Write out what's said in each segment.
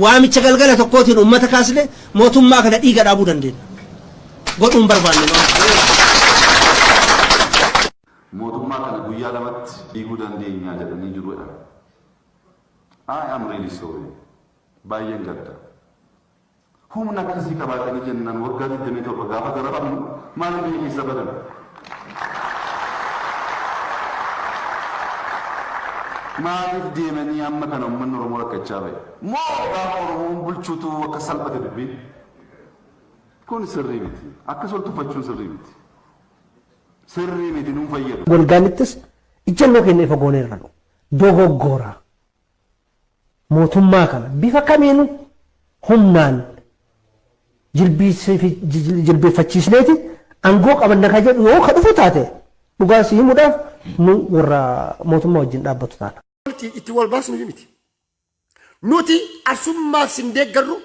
waamicha galgala tokkootiin uummata kaasne mootummaa kana dhiiga dhaabuu dandeenya godhuun barbaanne Mootummaa kana guyyaa lamatti diiguu dandeenya jedhanii jiru jedhan. I am really sorry. Baay'een gadda. Humna akkasii qabaatanii jennaan waggaa 27 gaafa darabamnu maaliif biyya keessa badan? Maaliif deemanii amma kana uummanni Oromoo rakkachaa ba'e? Moo gaafa Oromoon bulchuutu akka salphate dubbiin? Kun sirrii miti. Akkas ol tuffachuun sirrii miti. sirrii miti nun fayyadu. Golgaanittis ijjannoo keenya ifa gooneerra nu dogoggora. Mootummaa kana bifa kamiinuu humnaan jilbeeffachiisneeti angoo qabanna ka jedhu yoo ka dhufu taate dhugaa si himuudhaaf nu warra mootummaa wajjin dhaabbatu taana. Itti wal baasnu miti. Nuti arsummaaf sin deeggarru,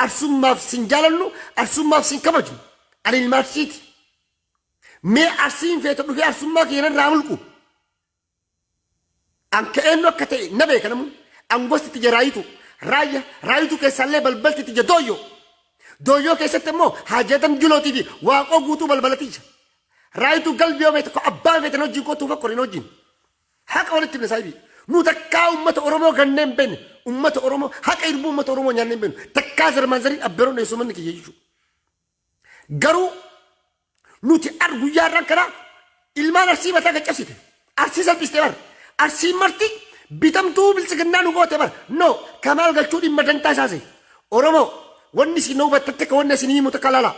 arsummaaf sin jaalannu, arsummaaf sin kabajnu. Ani ilma arsiiti. Mee arsiin feete dhufee arsummaa kiyya narraa mulqu. An ka eenyu akka ta'e na beeka namuu. An gosti tiyya raayitu. Raayya raayitu keessaallee balbalti tiyya dooyyoo. Dooyyoo keessatti immoo haajaadam julootii fi waaqoo guutuu balbala tiyya. Raayitu galbi yoo beekte ko abbaan feetan wajjin kootuu fakkorin wajjin. Haqa walitti himne saahibii. Nu takkaa uummata Oromoo gannee hin beekne. Uummata Oromoo haqa irbuu uummata Oromoo nyaannee hin beeknu. Takkaa zarmaan zariin abbeeroon dheessuu manni kiyya jechuudha. Garuu nuti ar guyyaa irraan kanaa ilmaan arsii mataa kan cabsite. Arsii salphiste bar. Arsii marti bitamtuu biltsiginnaa nu goote bar. No kamaal galchuu dhimma dantaa isaase. Oromoo wanni isin hubattatte ka wanni isin himu takka laalaa.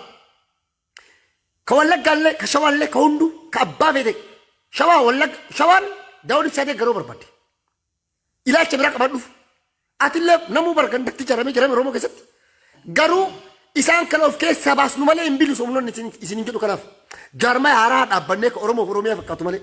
Ka wallaggaallee ka shawaallee ka hunduu ka abbaa feete shawaa wallagga shawaan daawwan ibsaa deeggaroo barbaadde. Ilaalcha biraa qabadhuuf atillee namuu bargandatti jaramee jarame Oromoo keessatti garuu isaan kana of keessaa baasnu malee hin bilisomnu isin hin jedhu kanaaf jaarmaya haaraa dhaabbannee ka Oromoof Oromiyaa fakkaatu malee.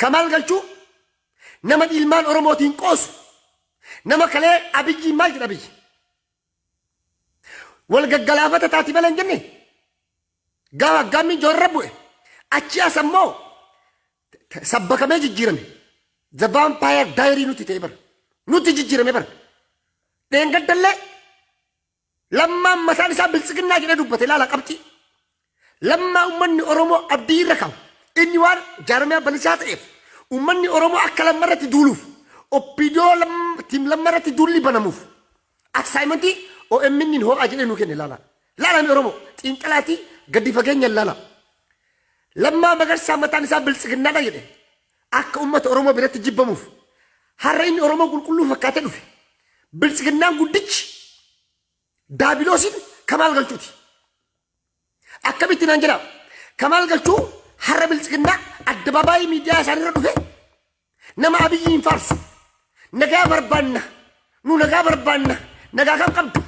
Kamaal Galchuu nama ilmaan Oromootiin qoosu nama kalee Abiyyiin maal jedha Abiyyi? Wal gaggalaafata taati malee hin jenne gaafa aggaammiin joorra bu'e achi as ammoo sabbakamee jijjiirame the vampire diary nutti ta'e bara nutti jijjiirame bara dheengaddallee Lammaan mataan isaa biltsiginnaa jedhee dubbate ilaala qabxii. Lammaa ummanni Oromoo abdii irra kaa'u. Inni waan jaarmiyaa balisaa ta'eef ummanni Oromoo akka lamma irratti duuluuf oppiidiyoo tiim lamma irratti duulli banamuuf aksaayimantii OMN hin hoo'aa jedhee nuu kenne ilaala. Ilaalame Oromoo xiinxalaatii gadi fageenya ilaala. Lammaa magarsaa mataan isaa biltsiginnaadha jedhe. Akka uummata Oromoo biratti jibbamuuf har'a inni Oromoo qulqulluu fakkaatee dhufe. Biltsiginnaan guddichi daabiloosiin kamaal galchuuti. Akkamitti naan jedhaa? Kamaal galchuu har'a biltsiginnaa addabaabaayii miidiyaa isaanirra dhufe nama abiyyi hin faarsu. Nagaa barbaanna. Nu nagaa barbaanna. Nagaa kam qabdu?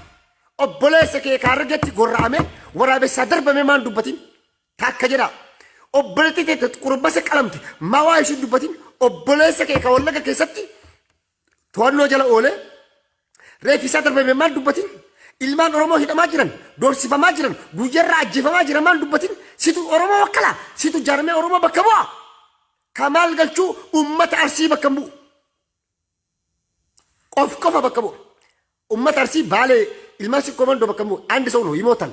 Obboleessa kee kaarragetti gorra'ame waraabessaa darbame maan dubbatin? Takka jedha obboleetti teette qurbasa qalamte mawaa ishii dubbatin obboleessa kee ka wallaga keessatti to'annoo jala oolee reeffisaa darbame maal dubbatin ilmaan oromoo hidhamaa jiran doorsifamaa jiran guyyarraa ajjeefamaa jiran maal dubbatin situ oromoo wakkala situ jaarmee oromoo bakka bu'a ka maal galchuu ummata arsii bakka bu'u qof qofa bakka bu'a ummata arsii baalee ilmaan sikkoo mandoo bakka bu'u andi sa'uun hoyimootan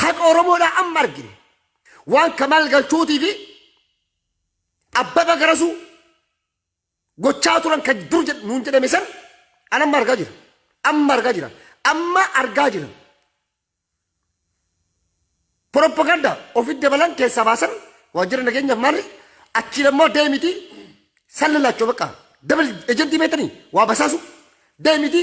Haqa Oromoodhaa amma argine. Waan Kamaal Galchuutii fi Abbaba Garasuu gochaa turan kan dur jedh- nuun jedhame san an amma argaa jira. Amma argaa jira. Amma argaa jira. Propaganda ofitti dabalan keessaa baasan waajjira nageenyaaf maali achiin ammoo deemiti san lalaachoo bakka dabal ejentii beektanii waa basaasu Deemiti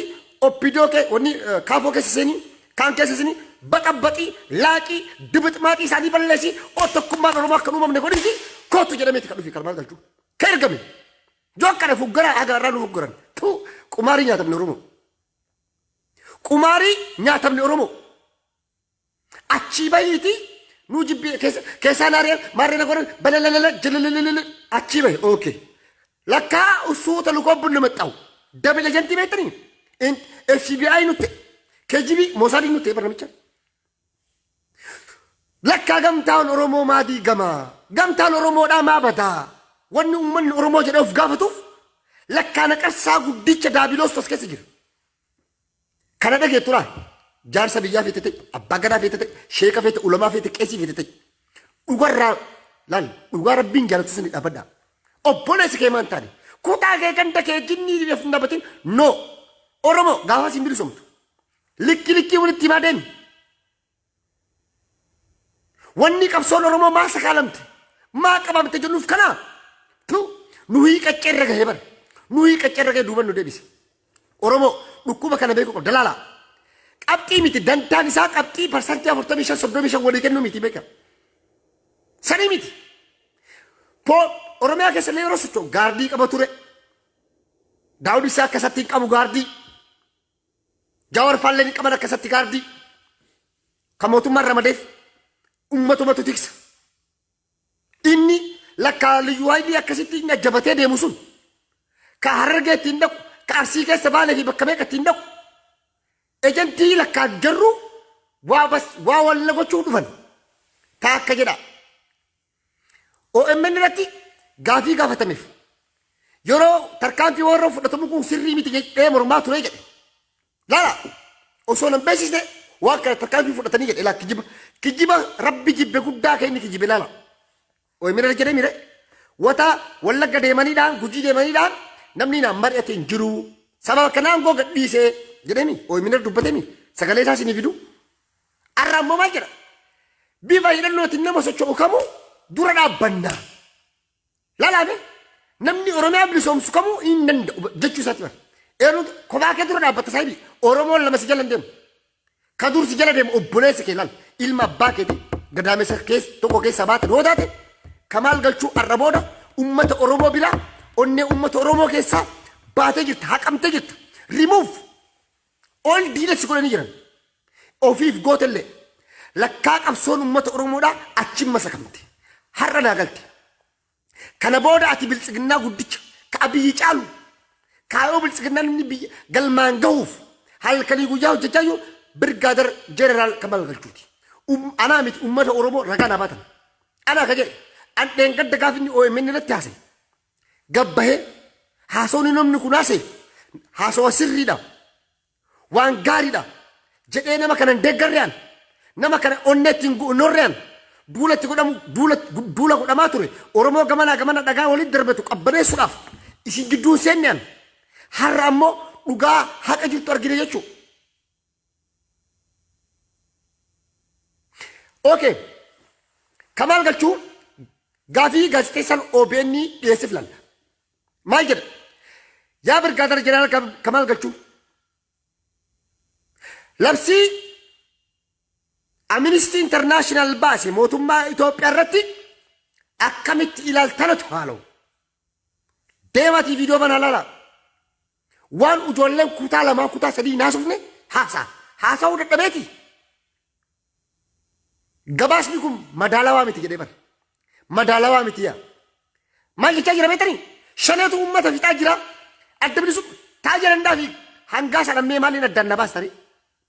oppidoo kee wanni kaafoo keessa seenii kaan keessa seenii baxabaxii laaqii dibixmaaxii isaanii balleessi oo tokkummaan oromoo akka uumamne godhinti kootu jedhameeti kan dhufi karmaan galchuu ka ergame yoo akkana fuggaraa haga irraa nu fuggaran tuu qumaarii nyaatamne oromoo qumaarii nyaatamne oromoo Achii bahiitii nuu jibbii keessa- keessaa na ari'an maarree na godhan balalala jalalala achii bahi ookee. Lakkaa usuuta lukoo bunna maxxawu. Dabila jantii beektanii? In- FBI nutti KGB Mosaadii nutti eebba namicha. Lakkaa gamtaan Oromoo maa diigamaa? Gamtaan Oromoodhaa maa badaa? Wanni uummanni Oromoo jedhee of gaafatuuf lakkaa naqarsaa guddicha daabiloos as keessa jira. Kana dhageettu laal. Jaarsa biyyaa feete ta'e, abbaa gadaa feete ta'e, sheeka feete, ulamaa feete, qeesii feete ta'e. Dhugarraa laal dhugaa rabbiin jaalatti sani dhaabadhaa. Obboleessi kee maan taane kutaa kee ganda kee jinnii dhibeef hin dhaabatin noo Oromoo gaafas hin bilisomtu. Likki likkii walitti himaa deemi. Wanni qabsoon Oromoo maa sakaalamte? Maa qabamte jennuuf kana? Tu nu hiiqaccee irra gahee bara. Nu hiiqaccee irra gahee duuban nu deebise. Oromoo dhukkuba kana beekuu qabda laala. Qabxii miti dantaan isaa qabxii parsantii afurtamii shan soddomii shan walii kennuu miti beeka. Sanii miti. Poo Oromiyaa keessa illee yeroo socho'u gaardii qaba ture. Daawud isaa akka isatti hin qabu gaardii. Jawar faalleen hin qaban akkasatti gaardii kan mootummaan ramadeef ummatumatu tiksa. Inni lakkaa liyyuu haayilii akkasitti inni ajjabatee deemu sun ka harargee ittiin dhaqu ka arsii keessa baalee fi bakka meeqa ittiin dhaqu ejantii lakkaa garruu waa bas waa walla gochuu dhufan taa akka jedha OMN irratti gaafii gaafatameef yeroo tarkaanfii warra fudhatamu kun sirrii miti jedhee mormaa ture jedhe. Laala osoo nan beeksisne waan kana tarkaanfii fudhatanii jedhe laa kijiba kijiba rabbi jibbe guddaa kee inni kijibe laala. OMN irra jedhee mire wata wallagga deemaniidhaan gujii deemaniidhaan namni naan mari'ate hin jiru sababa kanaan goo gadhiisee jedhemi OMN irra dubbatemi sagalee isaa isinii fiduu. Har'a ammoo maal jedha? Bifa hidhannootiin nama socho'u kamuu dura dhaabbannaa. Lalaame namni Oromiyaa bilisoomsu kamuu hin danda'u jechuu isaati bara. Eeruu kophaa kee dura dhaabbata saayibii Oromoon lama si jala hin deemu. Ka dur si jala deemu obboleessa kee laala. Ilma abbaa keetii gadaamessa keessa tokko keessa baate yoo taate ka maal galchuu har'a booda uummata Oromoo biraa onnee uummata Oromoo keessaa baatee jirta haqamtee jirta. Remove Ol diina si godhanii jiran. Ofiif gootellee. Lakkaa qabsoon uummata Oromoodhaa achiin masakamte. Har'a naa galte. Kana booda ati biltsiginnaa guddicha ka abiyyi caalu kaayoo biltsiginnaan inni biyya galmaan gahuuf halkanii guyyaa hojjechaa jiru birgaadar jeneraal Kamaal Galchuuti. Um, anaa miti uummata Oromoo ragaa naa baatan. Anaa ka jedhe an dheengadda gaaf inni OMN irratti haasa'e. gad bahee haasawni namni kun haasa'e haasawa sirriidha waan gaariidha jedhee nama kana hin deeggarre an nama kana onnee ittiin gu'unnorre an duula itti godhamu duula duula godhamaa ture oromoo gamanaa gamana dhagaa walitti darbetu qabbaneessuudhaaf isin gidduun seenne an har'a ammoo dhugaa haqa jirtu argine jechuudha. Okay. Kamaal galchuu gaafii gaazexeessaan OBN dhiyeessif lalla. Maal jedha? Yaa birgaadara jeneraal Kam- Kamaal galchuu. Labsii Amnesty International baase mootummaa Itoophiyaa irratti akkamitti ilaaltanatu haaloo. Deematii viidiyoo banaa lala. Waan ijoolleen kutaa lamaa kutaa sadii hin haasofne haasaa. Haasa'uu dadhabeeti. Gabaasni kun madaalawaa miti jedhee bara. Madaalawaa miti yaa. Maal jechaa jira beektanii? Shaneetu uummata fixaa jira. Adda bilisummaa taa jedhan daafi hangaa sana mee maaliin addaan na baastanii?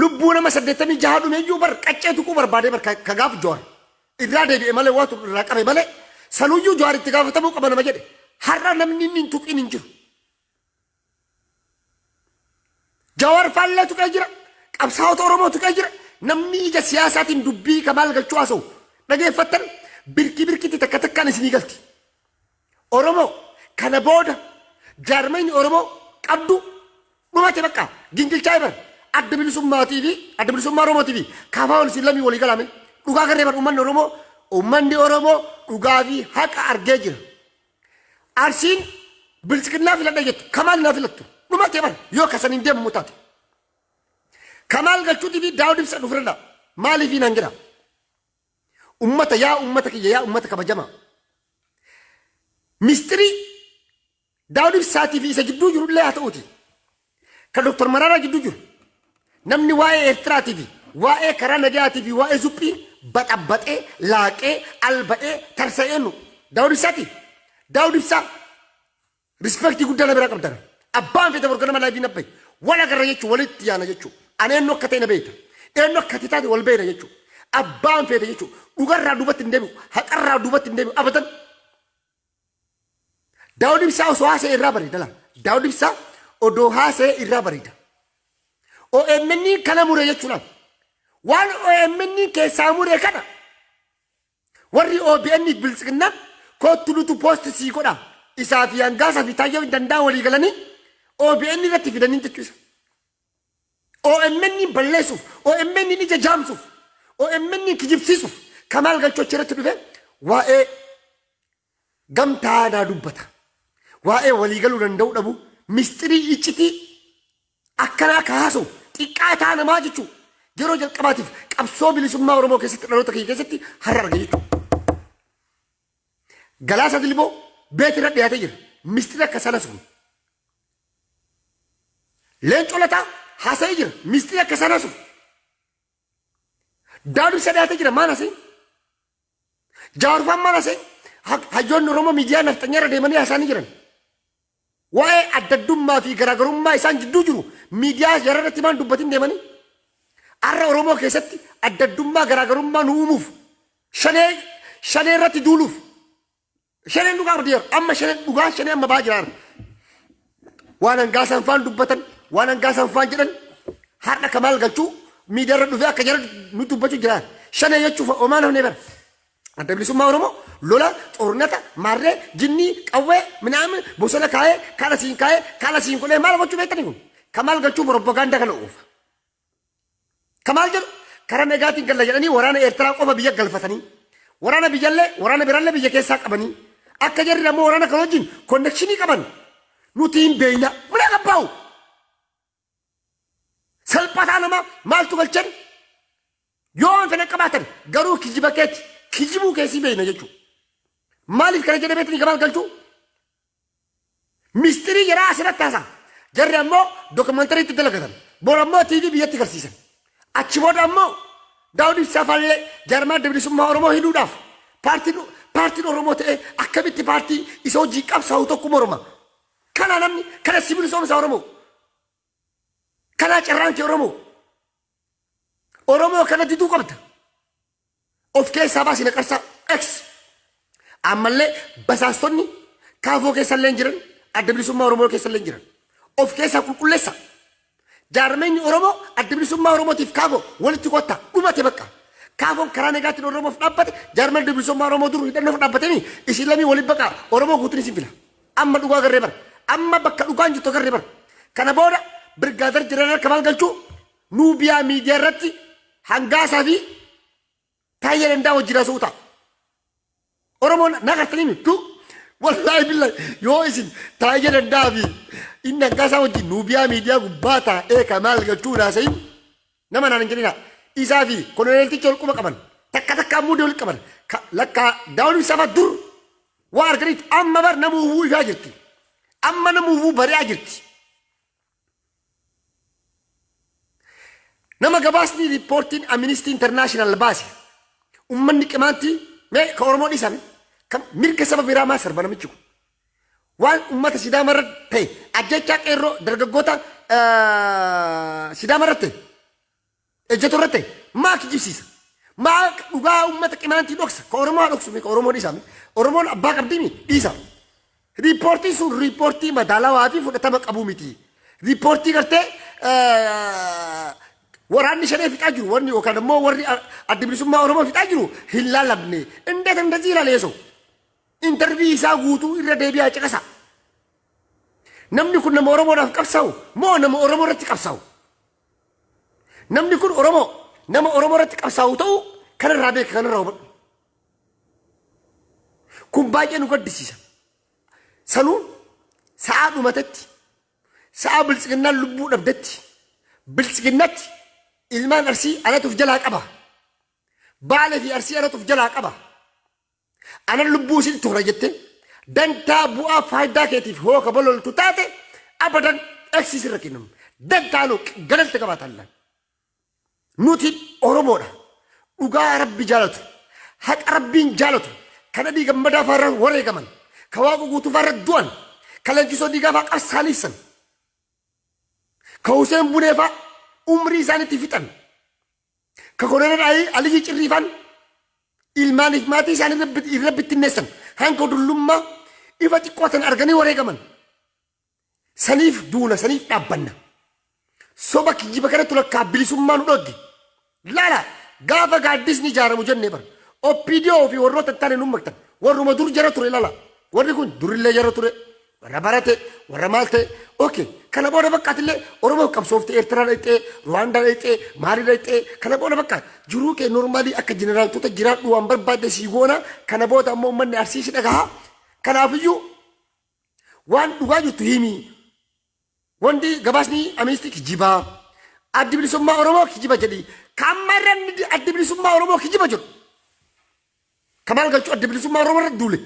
Lubbuu nama saddeettamii jaha dhumeeyyuu bar qaccee tuquu barbaadee bar ka gaaf Jawaar irraa deebi'e malee waatu irraa qabe malee sanuyyuu Jawaar itti gaafatamuu qaba nama jedhe har'a namni inni hin tuqin hin jiru. Jawaar faallee tuqee jira qabsaa'ota Oromoo tuqee jira namni ija siyaasaatiin dubbii kamaal galchuu haasa'u dhageeffattan birkii birkiitti takka takkaan isinii galti. Oromoo kana booda jaarmayni Oromoo qabdu dhumate bakka gingilchaa'e bara adda bilisummaatii fi adda bilisummaa Oromootii fi kaafaa wal isin lamii walii galaame dhugaa garree bara uummanni Oromoo uummanni Oromoo dhugaa fi haqa argee jira. Arsiin bilisikinnaa filadha jettu kamaal naa filattu dhumate bara yoo kasan hin deemamu taate. Kamaal galchuutii fi daawud ibsa dhufirra maaliif hin hangira? Ummata yaa ummata kiyya yaa ummata kabajamaa. Mistirii Daawud Ibsaatii fi isa gidduu jiru illee haa ta'uuti. Kan Dr. Maraaraa gidduu jiru. Namni waa'ee Eertiraatii fi waa'ee karaa nagayaatii fi waa'ee zuphii baxabaxee, laaqee, alba'ee, tarsa'ee nu. Daawud Ibsaatii. Daawud Ibsaa. Rispektii guddaa na bira qabdan. Abbaan feete bor ganama laayivii na bahi. Wal agarra jechuu walitti yaana jechuu. Ani eenyu akka ta'e na beekta. Eenyu akka ati taate wal beekna jechuu. Abbaan feete jechuu. Dhugarraa duubatti hin deebi'u. Haqarraa duubatti hin deebi'u. Abadan. Daawud Ibsaa osoo haasa'e irraa bareeda laa. Daawud Ibsaa odoo haasa'e irraa bareeda. OMN kana mure jechuudhaan waan OMN keessaa mure kana Warri OBN fi Biltsiginnaa koottu nutu post sii godha isaa fi Angaasa fi Taayyoo hin danda'a walii galanii OBN irratti fidanii jechuu isa. OMN balleessuuf, OMN ija jaamsuuf, OMN kijibsiisuuf Kamaal Galchoo achi irratti dhufee waa'ee gamtaa naa dubbata. Waa'ee walii galuu danda'uu dhabuu misxirii iccitii akkanaa ka haasa'u xiqqaataa namaa jechuu yeroo jalqabaatiif qabsoo bilisummaa Oromoo keessatti dhaloota kiyya keessatti har'a arge jechuu. Galaasaa Dilboo beeti irra dhiyaatee jira. Misxiri akka sana sun. Leencoo Lataa haasa'ee jira. Misxiri akka sana sun. Daaduu isa dhiyaatee jira maan haasa'in? Jaarfaan mana se hayyoonni Oromoo miidiyaa nafxanyaa irra deemanii haasaanii jiran. Waa'ee addaddummaa fi garaagarummaa isaan jidduu jiru miidiyaa jara irratti maan dubbatin deemanii. Arra Oromoo keessatti addaddummaa garaagarummaa nu uumuuf shanee shanee irratti duuluuf Shaneen dhugaa ardeera. Amma shaneen dhugaa shanee amma baa jiraarra. Waan hangaa sanfaan dubbatan, waan hangaa sanfaan jedhan har'a kamaal galchuu miidiyaarra dhufee akka jara nu dubbachuu jira. Shanee jechuuf omaan hafnee bara. Adda bilisummaa Oromoo lola, xornata, maarree, jinnii, qawwee, minaamin, bosona kaa'ee, kaala siin kaa'ee, kaala siin godhee maal gochuu beektanii kun? Kamaal galchuu propaganda kana oofa. Ka maal jedhu karaa nagaatiin galla jedhanii waraana Eertiraa qofa biyya galfatanii waraana biyyallee waraana birallee biyya keessaa qabanii akka jarri ammoo waraana kan wajjin konnekshinii qaban nuti hin beekna mana qabbaa'u. Salphataa nama maaltu galchan yoo waan fedhan qabaatan garuu kijiba keetti kijibuu keessii beekna jechuudha. Maaliif kana jedhameetti ni gabaal galchuu? Mistirii jaraa asirratti haasaa. Jarri ammoo dookumantarii itti dalagatan. Bor ammoo TV biyyatti garsiisan. Achi booda ammoo Daawud Ibsaa faallee jaarmaa adda bilisummaa Oromoo hidhuudhaaf paartiin paartiin Oromoo ta'ee akkamitti paartii isa hojii qabsaa'u tokko morma. Kanaa namni kana sibilisomsa Oromoo. Kanaa carraan kee Oromoo. Oromoo kana diduu qabda. Of keessaa baasi naqarsaa X. Ammallee basaastonni kaafoo keessallee hin jiran, adda bilisummaa Oromoo keessallee hin jiran. Of keessaa qulqulleessa. Jaarmeenyi Oromoo adda bilisummaa Oromootiif kaafoo walitti kotta dhumate bakka. Kaafoon karaa nagaatiin Oromoof dhaabbate, jaarmeen adda bilisummaa Oromoo dur hidhannoof dhaabbatanii isin lamii waliin baqa Oromoo guutuun isin fila. Amma dhugaa agarree bara. Amma bakka dhugaan jirtu agarree bara. Kana booda birgaadar jiran harka maal galchuu nuubiyaa miidiyaa irratti hangaasaa fi taayya dandaa wajjin haasa'uu ta'a. Oromoon na gartanii mitu wallaahi billahi yoo isin taayya dandaa fi inni hangaasaa wajjin nuubiyaa miidiyaa gubbaa taa'ee ka maal galchuu haasa'in Nama naan hin jedhinaa. Isaa fi koloneeltichi wal quba qaban. Takka takka ammoo wal qaban. Ka- Lakkaa daawwan ibsaa fa'a dur waa arganitti amma bar nama hubuu ifaa jirti. Amma nama hubuu bari'aa jirti. Nama gabaasni riippoortiin Aministii Intarnaashinaal baase ummanni qimaantii mee ka Oromoo dhiisame kan mirga saba biraa maa sarba namichi kun. Waan ummata Sidaama irratti ta'e ajjechaa qeerroo dargaggoota Sidaama irratti ta'e ejjetu irratti ta'e maa kijibsiisa? Maa dhugaa ummata qimaantii dhoksa? Ka Oromoo dhoksu mi ka Oromoo dhiisa mi? Oromoon abbaa qabdii mi? Dhiisa. Riippoortiin sun riippoortii madaalawaa fi fudhatama qabu miti. Riippoortii gartee waraanni shanee fixaa jiru wanni yookaan immoo warri adda bilisummaa Oromoo fixaa jiru hin laalamne. Indeet indazii ilaaleesoo. Intervii isaa guutuu irra deebi'aa caqasaa. Namni kun nama Oromoodhaaf qabsaa'u moo nama Oromoo irratti qabsaa'u? Namni kun Oromoo nama Oromoo irratti qabsaa'u ta'uu kanarraa beeka kanarraa hubadhu. Kun baay'ee nu gaddisiisa. Sanuu sa'aa dhumatetti sa'aa biltsiginnaan lubbuu dhabdetti biltsiginnatti ilmaan arsii anatuuf jalaa qaba. Baalee fi arsii anatuuf jalaa qaba. Anan lubbuu isin toora jettee dantaa bu'aa faayidaa keetiif hooka bololtu taate abadan eksi sirra kennamu. Dantaa luq galalta qabaata allaan. Nuti Oromoodha. Dhugaa Rabbi jaalatu. Haqa Rabbiin jaalatu. Kan Abii Gammadaa faarra wareegaman. Ka Waaqu guutuu faarra du'an. Ka Leenjisoo Diigaa faa qabsaaniisan. Ka Huseen Bunee faa umrii isaanitti fixan. Ka koloneel Ayii Aliyyii Cirriifaan ilmaaniif maatii isaanii irra bit- irra bittinneessan hanga dullummaa ifa xiqqoo tan arganii wareegaman. Saniif duuna saniif dhaabbanna. Soba kijjiba kanatti lakkaa bilisummaa nu dhogge. Laala gaafa gaaddisni ijaaramu jennee bara. OPDO fi warroota itti aanee nu maktan. Warruma dur jara ture laala. Warri kun durillee jara ture. warra barate warra maal ta'e okay kana booda baqqaatillee oromoof qabsoofte eertiraa dhaqxee ruwaandaa dhaqxee maalii dhaqxee kana booda baqqaa jiruu kee normaalii akka jeneraaltota jiraadhu waan barbaadde sii goona kana booda ammoo ummanni arsii si dhagaha kanaafiyyuu waan dhugaa jirtu himii Wanti gabaasni Aministii kijiba. Addi bilisummaa Oromoo kijiba jedhi. Kamma irra inni di- addi bilisummaa Oromoo kijiba jedhu. Kamaal galchuu addi bilisummaa Oromoo irra duule.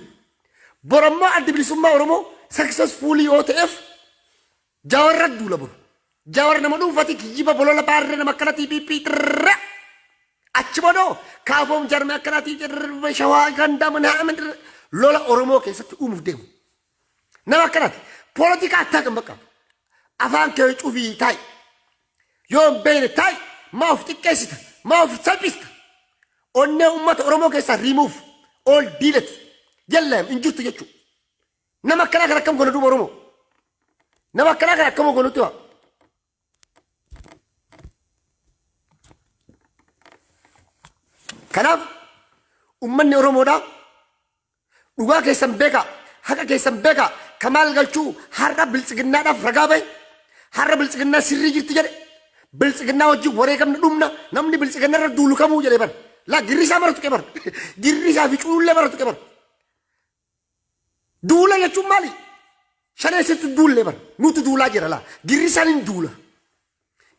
Bor ammoo addi bilisummaa Oromoo successfully yoo ta'eef Jaawar irra duula bor. Jaawar nama dhuunfati kijiba bolola baarree nama akkanatii piippii xirra. Achi boodoo kaafoom jarme akkanatii xirra shawaa gandaa manaa amin xirra. Lola Oromoo keessatti uumuuf deemu. Nama akkanati. Politika attaa kan bakka. Afaan kee cufii taa'i. Yoo hin beekne taa'i. Maa of xiqqeessita. Maa of salphista. Onnee uummata Oromoo keessaa riimuuf. Ool diilati. Jallaam hin jirtu jechuudha. Nama akkanaa kan akkam godha duuba Oromoo. Nama akkanaa kan akkam godhutti waa. Kanaaf uummanni Oromoodhaa Dhugaa keessan beekaa, haqa keessan beekaa, ka maal galchuu har'a biltsiginnaadhaaf ragaa bahe, har'a biltsiginnaa sirrii jirti jedhe, biltsiginnaa wajjin wareegamna dhumna, namni biltsiginna irra duulu kamuu jedhe bar. Laa girrisaa mara tuqe bar. Girrisaa fi culullee mara tuqe bar. Duula jechuun maali? Shaneessitu duullee bar. Nutu duulaa jira laa. Girrisaan hin duula.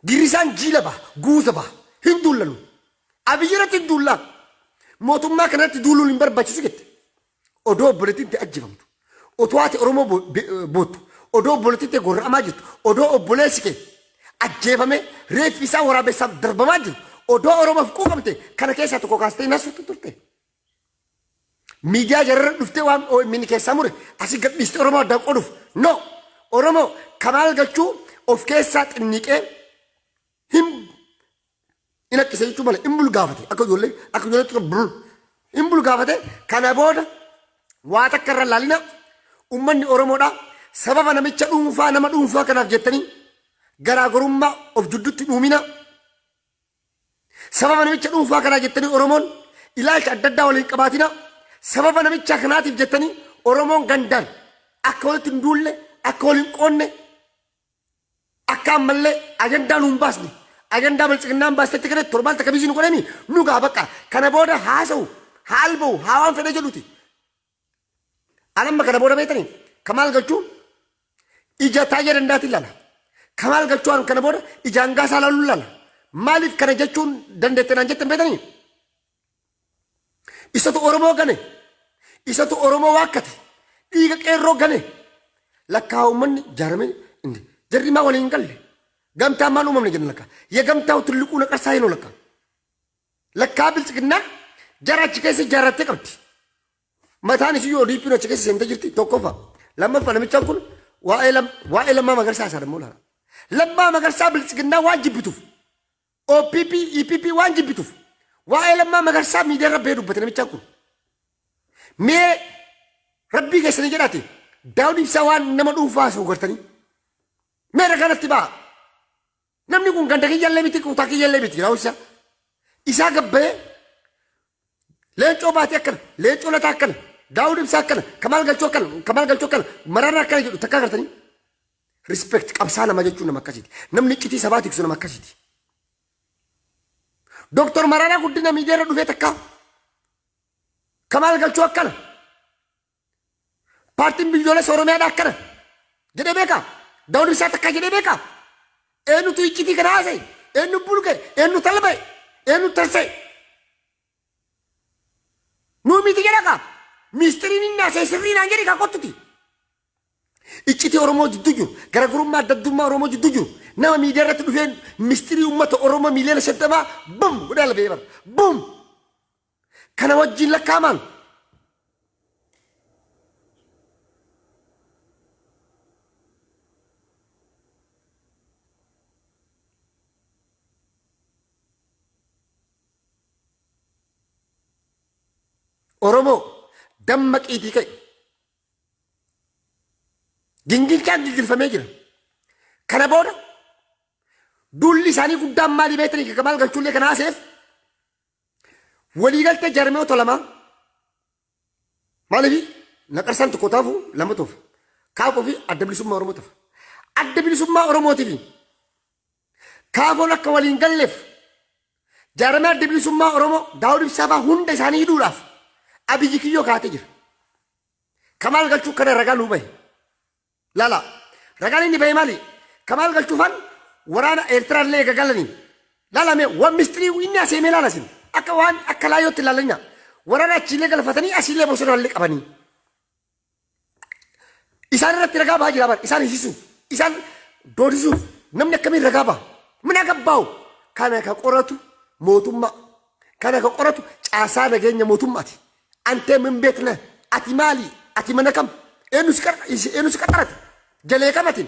Girrisaan jiila baha, guuza baha. Hin duulla nuyi. Abiyyi irratti hin duullaa. Mootummaa kana irratti duuluun hin barbaachisu jette. Odoo obboleettiin tee ajjefamtu. Otoo ati Oromoo bo- be- boottu. Odoo obboleettiin tee gorra'amaa jirtu. Odoo obboleessi kee ajjeefamee reeffi isaa waraabessaaf darbamaa jiru. Odoo Oromoof quuqamte kana keessaa tokko kaastee hin haasoftu turte. Miidiyaa jararra dhuftee waan OMN keessaa mure asi gadhiiste Oromoo addaan qooduuf. No! Oromoo kamaal galchuu of keessaa xinniqee hin hin akkise jechuu malee hin bulgaafate akka ijoollee akka ijoollee xiqqoo bul hin bulgaafate kana booda waa takka irra laalina ummanni Oromoodha sababa namicha dhuunfaa nama dhuunfaa kanaaf jettanii garaagarummaa of jidduutti dhuumina Sababa namicha dhuunfaa kanaa jettanii Oromoon ilaalcha adda addaa waliin qabaatina. Sababa namichaa kanaatiif jettanii Oromoon gandaan akka walitti hin duulle, akka waliin qoonne, akka ammallee ajandaa nuun baasne. Ajandaa biltsiginnaan baastetti kana torbaan takka biizii nu godhanii nu gaa bakka kana booda haasa'u, haalba'u, haa waan fedhe jedhuti. An amma kana booda beektanii ka maal galchuu ija taayya dandaatiin lala. Ka maal galchuu an kana booda ija hangaasaa laaluun lala. Maaliif kana jechuun dandeette naan jettan beektanii? Isatu Oromoo gane. Isatu Oromoo waakkate. Dhiiga qeerroo gane. Lakkaa uummanni jaaramee inni jarri maa waliin hin galle. Gamtaa maan uumamne jenna lakkaa. Ye gamtaa tulluquu naqarsaa hin lakkaa. Lakkaa bilchiginnaa jara achi keessa ijaarrattee qabdi. Mataan isii yoo dhiiphiin achi keessa seentee jirti tokkoffaa. Lammaffaa namichaan kun waa'ee lam- waa'ee lammaa magarsaa isaa dammoo laala. Lammaa magarsaa bilchiginnaa waan jibbituuf. OPP, EPP waan jibbituuf. Waa'ee lammaa magarsaa miidiyaa irra bahee dubbate namichaan kun. Mee rabbii keessanii jedhaati. Daawud ibsaa waan nama dhuunfaa haasa'u gartanii. Mee irra kanatti ba'a. Namni kun ganda kiyyallee miti kutaa kiyyallee miti yaa'u isaa. Isaa gabbayee leencoo baatee akkana leencoo lataa akkana daawud ibsaa akkana kamaal galchoo akkana kamaal galchoo akkana mararaa akkana jedhu takka agartanii. Respect qabsaa nama jechuun nama akkasiiti. Namni iccitii sabaa tiksu nama akkasiiti. Doktor Mararaa guddina miidiyaa irra dhufee takka kamaal galchoo akkana Paartiin biyyoolessa Oromiyaadhaa akkana jedhee beekaa? Daawud Ibsaa takkaa jedhee beekaa? Eenyutu iccitii kana haasa'e? Eenyu bulge? Eenyu talba'e? Eenyu tarsa'e? Nuu miti jedha kaa. Miistiriin inni haasa'e sirrii naan jedhe kaa kottuti. Iccitii Oromoo jidduu jiru, garaagarummaa adda addummaa Oromoo jidduu jiru, nama miidiyaa irratti dhufeen mistirii uummata Oromoo miiliyoona shaddamaa bum godhaa lafee bara. Bum! kana wajjin lakkaa'amaan Oromoo dammaqiitii ka'e. Gingilchaan gingilfamee jira. Kana booda duulli isaanii guddaan maalii beektanii kan maal galchuullee kan haaseef Waliigaltee jaarmiyoota lamaa maaliif naqarsaan tokko taafu lama toof kaafoo fi adda bilisummaa Oromoo tafa. Adda bilisummaa Oromootiif kaafoon akka waliin galleef jaarmee adda bilisummaa Oromoo Daawud Ibsaa fa'aa hunda isaanii hidhuudhaaf abiyyi kiyyoo kaatee jira. Kamaal galchuu kana ragaa nuu bahe. Lala. Ragaan inni bahe maali? Kamaal galchuufan waraana Eertiraa illee eega galanii. Lalame waan mistirii inni asii himee laalasin. Akka waan akka laayyootti laalanya. Waraana achiillee galfatanii asiillee bosona illee qabanii. Isaan irratti ragaa bahaa jira bar. Isaan hisisu. Isaan doodisuuf namni akkamiin ragaa baha. Mina gabbaawu. Kana ka qoratu mootummaa. Kana ka qoratu caasaa nageenya mootummaati. Antee min beekna ati maali ati mana kam eenu si qaxarate jalee kam atin